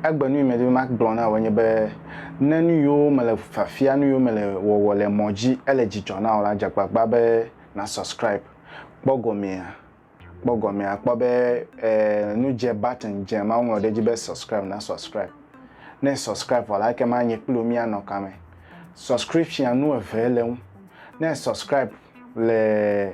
Egbe nu yi medi be magblɔ na wò enye be, ne nu yiwo mele fiafia, nu yiwo mele wɔwɔ le mɔ dzi ele dzidzɔ na wò la, dze agbagba be na subscribe. Kpɔ gɔmea, kpɔ gɔmea, kpɔ be e nu dze button dze ma woŋlɔ ɖe edzi be subscribe na subscribe. Ne e subscribe vɔ la ekema nye kpli wò mía nɔ kame. Subscription nu eve le eŋu. Ne e subscribe le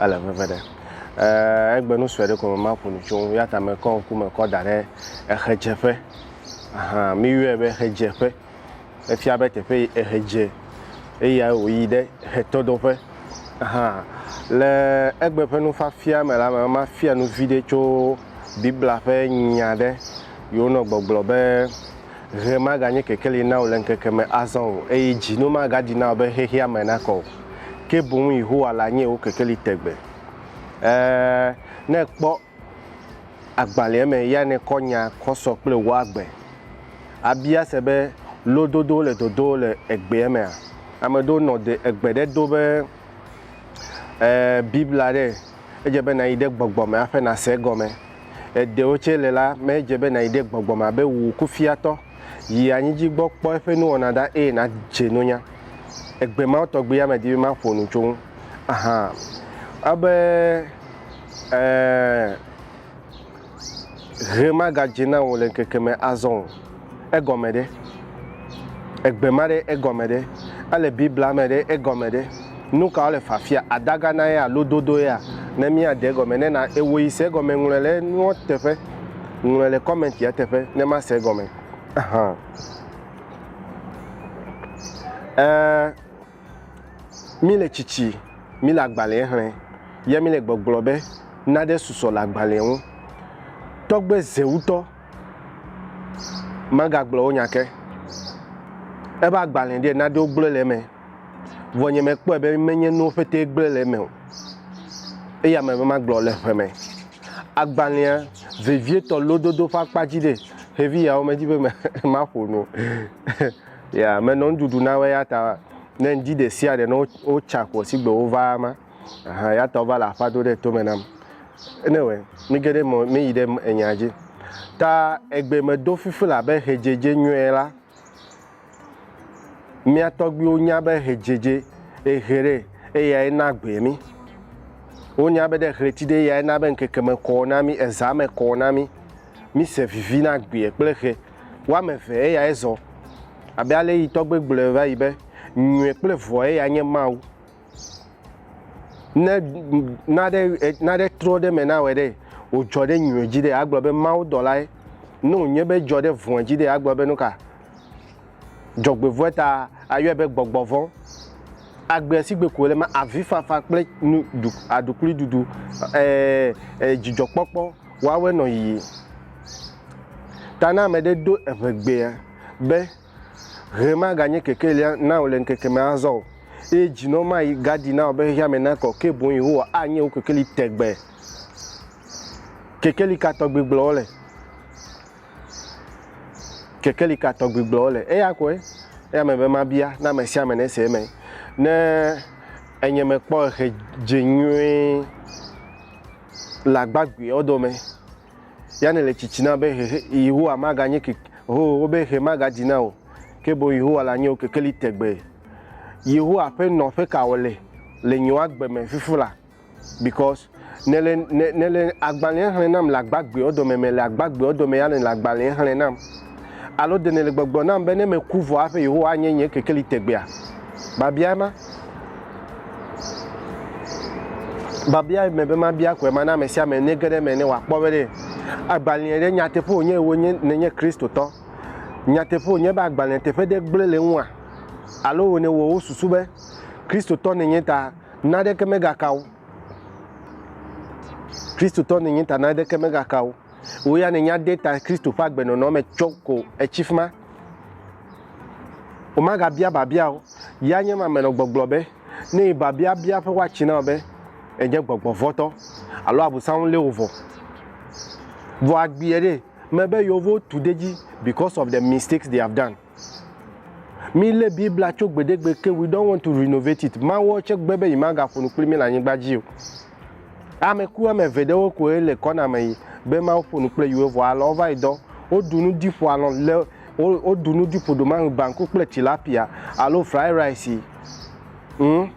ele veve ɖe. Eee egbe nu sue ɖe ko me maƒo nu tso ŋu ya ta mekɔ ŋku me kɔ da ɖe exedzeƒe. Ahan mi yɔe be exedzeƒe. Efia be teƒe yi exe dze eyae wo yi ɖe exetɔdoƒe. Ahan le egbe ƒe nufiafia me la me ma fia nu viɖe tso biblia ƒe nya ɖe yi wo nɔ gbɔgblɔ be. Ʋe maganye kekeli na wò le ŋkeke me azɔ o, eye dzi no magaɖi na wò be xexeame nakɔ o, ke boŋ Yehowa lanye wò kekeli tegbe. Ẽ, ne èkpɔ agbalẽa me ya nèkɔ nya kɔ sɔ kple wò agbe. Àbia se be, Lododowo le dodo le egbea mea? Ame ɖewo nɔ de egbe ɖe do be, Ẽ, Biblia ɖe? edze be nàyi ɖe gbɔgbɔ me haƒe nàse egɔme. Le ɖewo tsɛ le la, medze be nàyi ɖe gbɔgbɔ me abe wò kufiatɔ. Yi anyi dzi gbɔ kpɔ eƒe nuwɔna ɖa eye nàdze nunya. Egbe mawo tɔgbiya medi be maƒo nu tso ŋu. Ahan. Ebe, ɛɛ. Ʋe magadze na wò le ŋkeke me azɔ o. Egɔme ɖe? Egbe ma ɖe egɔme ɖe? Ele Biblia me ɖe egɔme ɖe? Nu ka wole fafia? Adaga na ye a? Lododo ye a? Ne mía de egɔme ne na ewɔ yi se egɔme ŋlɔe le nua teƒe. Ŋlɔe le comment ya teƒe ne ma se egɔme. Ahan. Eee. Mi le tsitsi, mi le agbalẽɛ xlẽ, ya mi le gbɔgblɔ be, Naɖe susɔ le agbalẽɛ ŋu. Tɔgbe Zewutɔ magagblɔ wo nya ke. Eƒe agbalẽ ɖee naɖe wogblɔɛ le eme, vɔ nye mekpɔe be menye nuwo ƒetee gblɔɛ le eme o. Eya me be magblɔ le ƒeme. Agbalẽa vevietɔ lododo ƒe akpa dzi ɖee, xevi yawo medzi be maƒo nu o. Ya menɔ nuɖuɖu na wo eyata ne ŋdi ɖesiaɖe ne wotsa kɔ sigbe wova ma ahan eyata wova le aƒa do ɖe tome nam. Ene wɛ mige ɖe mɔ meyi ɖe enya dzi. Ta egbe medo fifi labe hedzedze nyɔɛ la. Mia tɔgbiwo nya be hedzedze ehe ɖe eyae na gbe mi. Wonya be ɖe hleti ɖe eyae na be ŋkeke me kɔ na mi, eza me kɔ na mi. Mi se vivi na gbe kple he. Woame eve eyae zɔ, abe ale yi tɔgbe gblɔe va yi be, Nyui kple vɔ̃e ya nye Mawu. Ne naɖe, naɖe trɔ ɖe eme nawɔe ɖe, wòdzɔ ɖe nyui dzi ɖe, agblɔ be mawudɔlae, ne wònye be edzɔ ɖe vɔ̃e dzi ɖe, agblɔ be nuka? Dzɔgbevɔ̃e ta ayɔe be gbɔgbɔvɔ̃. Agbe si gbe ko wòle ma, avifafa kple nu, aɖukliɖuɖu, ɛɛ, ɛɛ, dzidzɔkpɔkpɔ. Woawɔe nɔ yiyi. Ta ne ame ɖe do eŋegbea be, Ʋe maganye kekelia na wò le ŋkeke me azɔ o, eye dzinɔ mayi gadi na wò be xexea me nakɔ o, ke boŋ Yehowa anye wò kekeli tegbee. Kekeli ka tɔgbi gblɔ wole? Kekeli ka tɔgbi gblɔ wole? Eya koe. Eya me be mabia na ame sia ame ne se eme. Ne enye mekpɔ exe dze nyuie. Le agbagbeawo dome, Yane le tsitsi na be xexe Yehowa maganye keke hoo wo be xe magadzi na o, ke boŋ Yehowa la nye wo kekeli tegbee. Yehowa ƒe nɔƒe ka wòle le nyewo agbe me fifi la? Because nèle nèle agbalẽa xlẽ nam le agbagbeawo dome mele agbagbeawo dome Yane le agbalẽa xlẽ nam. Alo ɖe nèle gbɔgblɔm nam be ne meku vɔ hafi Yehowa anye nye kekeli tegbea? Biabiae ma. Biabiae mebe mabia koe mana ame sia ame nege ɖe eme ne wòakpɔ be ɖe agbalẽa ɖe nyateƒe wònye wònye nènye Kristotɔ. Nyateƒe wònye be agbalẽa teƒe ɖe gblẽ le eŋua? Alo wònye wɔ wò susu be Kristotɔ nènye ta naɖeke megaka wò? Kristotɔ nènye ta naɖeke megaka wò? Wò ya nènya de ta Kristo ƒe agbenɔnɔ me tsɔ ko etsi fi ma. Womagabia biabia o. Ya nye ma menɔ gbɔgblɔ be, ne yi biabia bia ƒe woatsi na wò be, Ènye gbɔgbɔvɔtɔ, alo Abosam lé wò vɔ. Vɔ agbiɛ ɖe, mebe yewo vo tu de dzi because of the mistakes they have done. Mílé Biblia tso gbeɖegbe ke We don't want to renovate it. Mawu tsɛ gbe be yemagaƒo nu kpli mí le anyigba dzi o. Ame ku ame eve ɖewo koe le kɔna me yi be Mawu ƒo nu kple yewo vɔ alɔ̃ wova yi dɔ. Woɖu nu ɖi ƒo alɔ̃ le wo woɖu nu ɖi ƒo ɖomaŋ banku kple tilapia alo fry rice. Ŋ.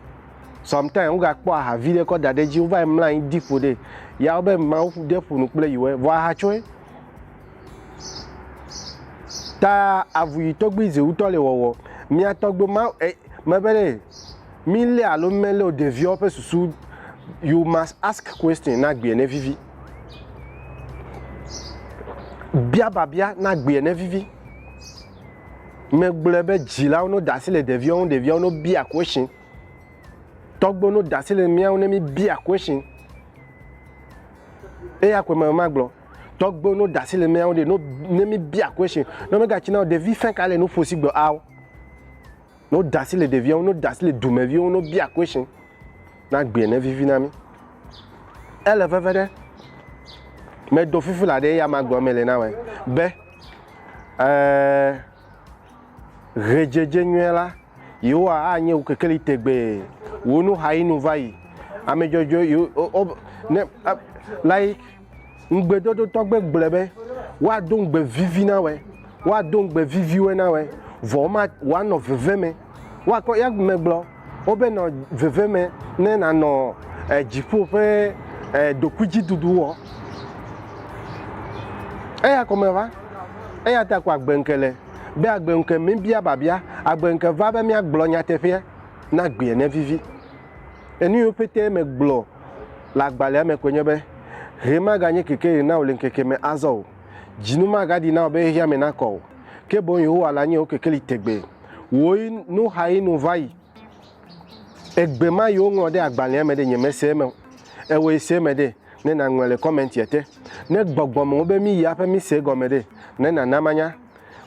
Sometimes wogakpɔ aha vi ɖe kɔ da ɖe edzi wova yi mlɔ anyi ɖi ƒo ɖe. Ya wo be Mawu ɖe ƒo nu kple yewo vɔ aha tsɔe. Ta avu yi tɔgbi zi wutɔ le wɔwɔ. Mia tɔgbi ma e me be ɖe mi le alo mi me le o ɖeviawo ƒe susu you must ask question na gbea ne vivi. Bia babia na gbea ne vivi. Me gblɔe be dzilawo no da asi le ɖeviawo ŋu ɖeviawo no bia question. Tɔgbiwo no da asi le mia ŋu ne mi bia question. Eya ko me ma gblɔ. Tɔgbuiwo no dasi le mía ŋu ɖe, no ne mi bia question, ne me ga tsina o, ɖevi fɛn ka le nu ƒo si gbe ao. No dasi le ɖevia ŋu, no dasi le dume viwo ŋu, no bia question, na gbea ne vivi na mi. Ele veve ɖe, me do fifi la ɖe ya ma gbe me le na me, be, eh, ɣedzedze nyuie la, yewoa a nye wukekeli tegbee, wunu ha yi nu va yi, ame dzɔdzɔe, yo, o, o, ne, a, like, Ŋugbedodotɔ gbe gblɔe be, Woado ŋugbe vivi na wòe, woado ŋugbe viviwoe na wòe, vɔ woma, wòanɔ veve me. Woakɔ, ya megblɔ wo be nɔ veve me ne nànɔ e, dziƒo ƒe e, ɖokuidziɖuɖu wɔ. Eya kɔme va. Eya ta ko agbe ŋke le, be agbe ŋke mebia biabia, agbe ŋke va be míagblɔ nyateƒea, na gbea nevivi. Enu yiwo petɛ megblɔ le agbalẽa me koe nye be, Ɣe maganye kekeɣi na wò le ŋkeke me azɔ o. Dzinu magaɖi na wò be xexeame nakɔ o, ke boŋ Yehowa la nye wò kekeli tegbee. Wòɣi nuxaɣi nu va yi. Egbe ma yi woŋlɔ ɖe agbalẽa me ɖe, nyemese eme o. Ewɔe se eme ɖe, ne nàŋlɔe le kɔmɛntia te. Ne gbɔgbɔm wòbe míyi aƒe míse egɔme ɖe, ne nàna manya.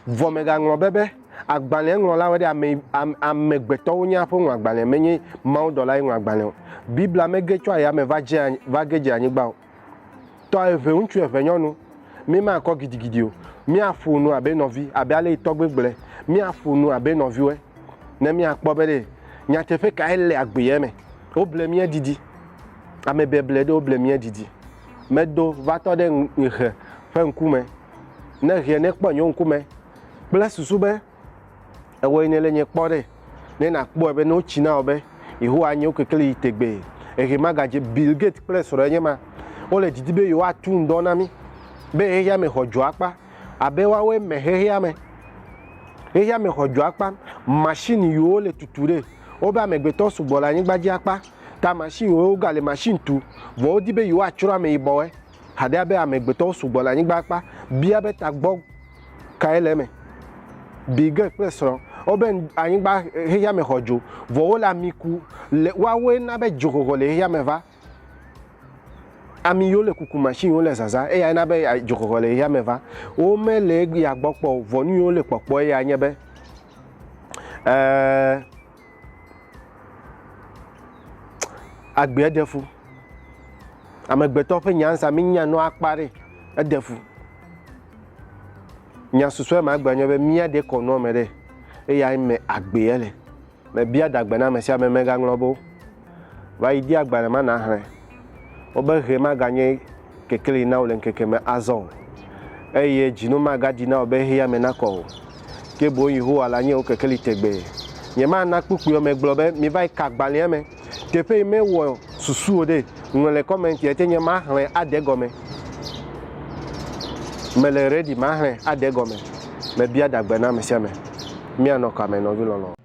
Vɔ mègaŋlɔ be be, agbalẽa ŋlɔlawoe ɖe ame, ame, amegbetɔwo nye aƒe ŋu agbalẽa, menye mawudɔlae ŋlɔ agbalẽa o. Biblia mege tso ayame va dze, va ge dze anyigba o. Tɔ eve, ŋutsu eve nyɔnu. Míemakɔ gidigidi o. Míaƒo nu abe nɔvi, abe ale tɔgbe gblɔe, míaƒo nu abe nɔviwoe, ne míakpɔ be ɖe nyateƒe kae le agbeea me. Woble mía didi. Ame beble ɖe woble mía didi. Medo va tɔ ɖe ŋ, ŋexe ƒe ŋkume. ne hia ne kpɔ enyo ŋkume kple susu be ewɔ yi ne le nye kpɔ ɖe ne na kpɔe be ne wo tsi na wo be Yehowa anyo kekeli yi tegbee ehe magadze Bill Gates kple srɔ̃ enye ma wo le didi be yewoa tu ŋdɔ na mi be hehia me xɔ dzoakpa abe woawoe me hehia me hehia me xɔ dzoakpa machine yi wo le tutu ɖe wo be amegbetɔ sugbɔ le anyigba dzi akpa ta machine wo ga le machine tu vɔ wo di be yewoa tsrɔ̃ ame yibɔwe haɖe abe amegbetɔwo sugbɔ le anyigba akpa bia be tagbɔ kae le eme. Birgit kple srɔ̃ wobe anyigba xexea me xɔ dzo, vɔ wole ami ku le woawoe na be dzoxɔxɔ le xexea me va. Ami yiwo le kuku machine wole zazã eyae na be dzoxɔxɔ le xexea me va. Womele eya gbɔ kpɔ o, vɔ nu yiwo wole kpɔkpɔ eyae nye be, ee, agbea ɖe fu. Amegbetɔ ƒe nyansa mínya nɔ akpa ɖe, eɖe fu. Nya susɔe ma gbe nye be mía ɖe kɔ nɔ me ɖe, eya me agbea le. Me bia dagbe na ame sia ame megaŋlɔ be va yi di agbalẽ ma na hlẽ. Wobe ʋe ma ganye kekeli na wò le ŋkeke me azɔ o, eye dzinu magadi na wò be xexeame nakɔ o, ke boŋ Yehowa lanye wò kekeli tegbee. Nyemana kpukpuiwo me gblɔ be miva yi ka gbalẽa me teƒe yi mewɔ susu o ɖe. Ŋlɔe le kɔmɛnti ete nye maxlẽ ade egɔme. Mele rɛdi, maxlẽ ade egɔme. Mebia ɖagbe na ame sia ame. Míanɔ kame, nɔvi lɔlɔ̃.